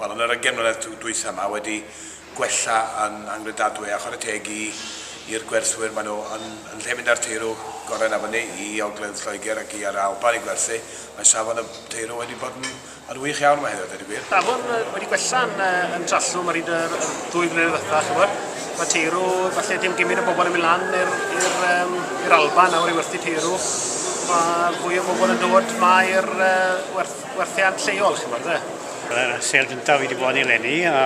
Wel, yn yr ugain mlynedd dwytha 'ma wedi gwella yn anghredadwy a chware teg i i'r gwerthwyr, maen nhw yn yn lle mynd â'r teirw gorau na fyny i ogledd Lloegr ac i ar y Alban i gwerthu. Mae safon y teirw wedi bod yn yn wych iawn yma heddiw, dweud y gwir. Safon wedi gwella yn yn Trallwm ar hyd yr ddwy flynedd ddiwetha', ch'mod. Mae teirw, falle dim gymyn o bobl yn mynd lan i'r i'r um, i'r Alban nawr i werthu teirw. Mae fwy o bobl yn dod 'ma i'r uh, werth, werthiant lleol, ch'mod, de. Mae'r sêl gyntaf wedi bod eleni a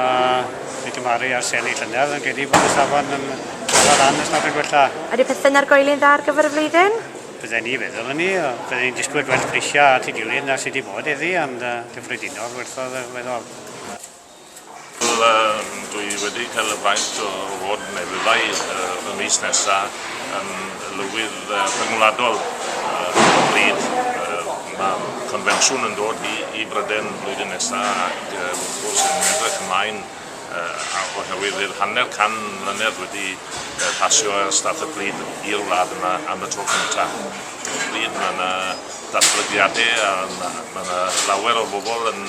wedi cymharu â'r seli llynedd yn credu bod y safon yn cael lan os nad yn gwella. Ydy pethau'n argoeli'n dda ar gyfer y flwyddyn? Bydden ni feddwl yn ni, bydden ni'n disgwyl gwell prisiau at ei gilydd na sydd wedi bod iddi, ond uh, gyffredinol werthodd y weddol. Wel, uh, dwi wedi cael y faint o fod yn efyddau uh, y mis nesaf yn lywydd uh, rhyngwladol uh, bryd Mae'r confensiwn yn dod i, i Bryden flwyddyn nesaf ac uh, wrth gwrs yn edrych ymlaen uh, oherwydd i'r hanner can mlynedd wedi uh, pasio ar staff y bryd i'r wlad yma am y tro cyntaf. Y bryd mae yna datblygiadau a mae yna lawer o bobl yn,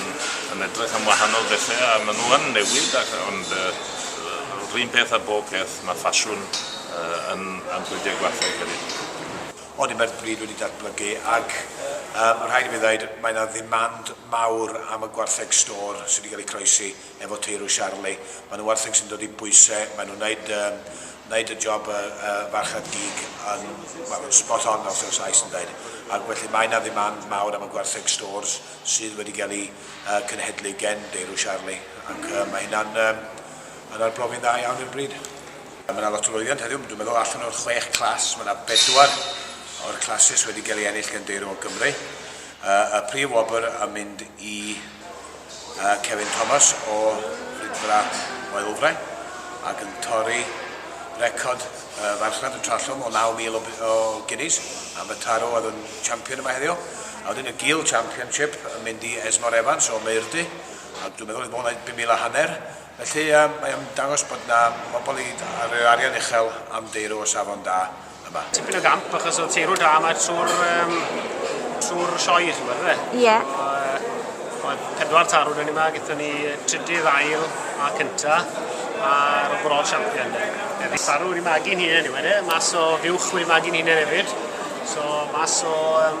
yn edrych am wahanol bethau a maen nhw yn newid ac, ond uh, rhywun peth a bob peth mae ffasiwn uh, yn, yn pwydau gwathau hefyd. Ond mae'r bryd wedi datblygu ac mae rhaid i mi ddweud mae yna ddimand mawr am y gwartheg stôr sydd wedi cael ei croesi efo teirw Charlie. Maen nhw'n wartheg sy'n dod i bwyse, maen nhw'n wneud, um, wneud y job y uh, farchad gig yn, well, yn spot on fel sef Sais yn dweud. Ac felly mae yna ddimand mawr am y gwartheg stôrs sydd wedi cael ei uh, cynhedlu gen deirw Charlie ac uh, mae hynna'n um, yn arbrofi'n dda iawn i'r bryd. Mae 'na lot o lwyddiant heddiw, dwi'n meddwl allan o'r chwech clas, mae 'na bedwar o'r clasys wedi gael ei ennill gan Deyrw o Gymru. Y prif wobr yn mynd i Kevin Thomas o Rydfra Maelfre ac yn torri record y farchnad yn Trallwm o 9,000 o guineas am y tarw oedd yn champion yma heddiw. A wedyn y Gil Championship yn mynd i Esmor Evans o Meirdy, a dwi'n meddwl oedd o'n wneud 5,000 a hanner. Felly, mae am dangos bod 'na bobl i roi arian uchel am deirw o safon da yma. Tipyn o gamp achos oedd teirw da yma trwy'r um, trwy'r sioe, chi'n gwybod, fe? Ie. Yeah. Oedd pedwar tarw dyn ni yma, gyda ni trydydd ail a cynta, a'r overall champion. Efo tarw wedi magu'n hunain i wedi, mas o fiwch wedi magu'n hunain hefyd. So, mas o um,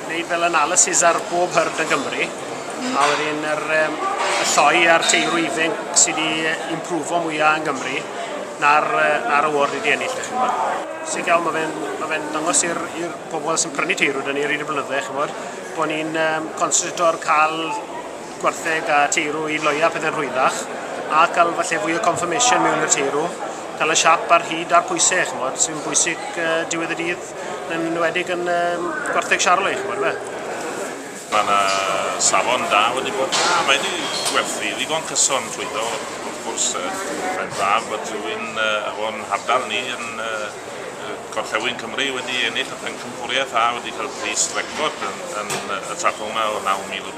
Wneud fel analysis ar bob hyrd yn Gymru, mm. a wedyn yr, um, y lloi a'r teirw ifen sydd wedi improfo mwyaf yn Gymru na'r, na'r award wedi ennill, da chi'n Sy'n gael, mae fe'n ma fe dangos i'r pobl sy'n prynu teirw, da ni rhaid y blynydde, chi'n bod, bod ni'n um, concentrator cael gwartheg a teirw i loia pethau'n rhwyddach, a cael falle fwy o confirmation mewn i'r teirw, cael y siap ar hyd a'r pwysau, chi'n bod, sy'n bwysig uh, diwedd y dydd. Yn enwedig yn um, gwartheg Charlotte, chi'n gwybod fe? Mae yna safon da wedi bod yna, mae wedi gwerthu ddigon cyson trwyddo, wrth gwrs, mae'n braf bod rhywun uh, o'n hardal ni yn uh, Gorllewin Cymru wedi ennill y pencampwriaeth a wedi cael pris record yn, yn y trafod yma o 9,000 o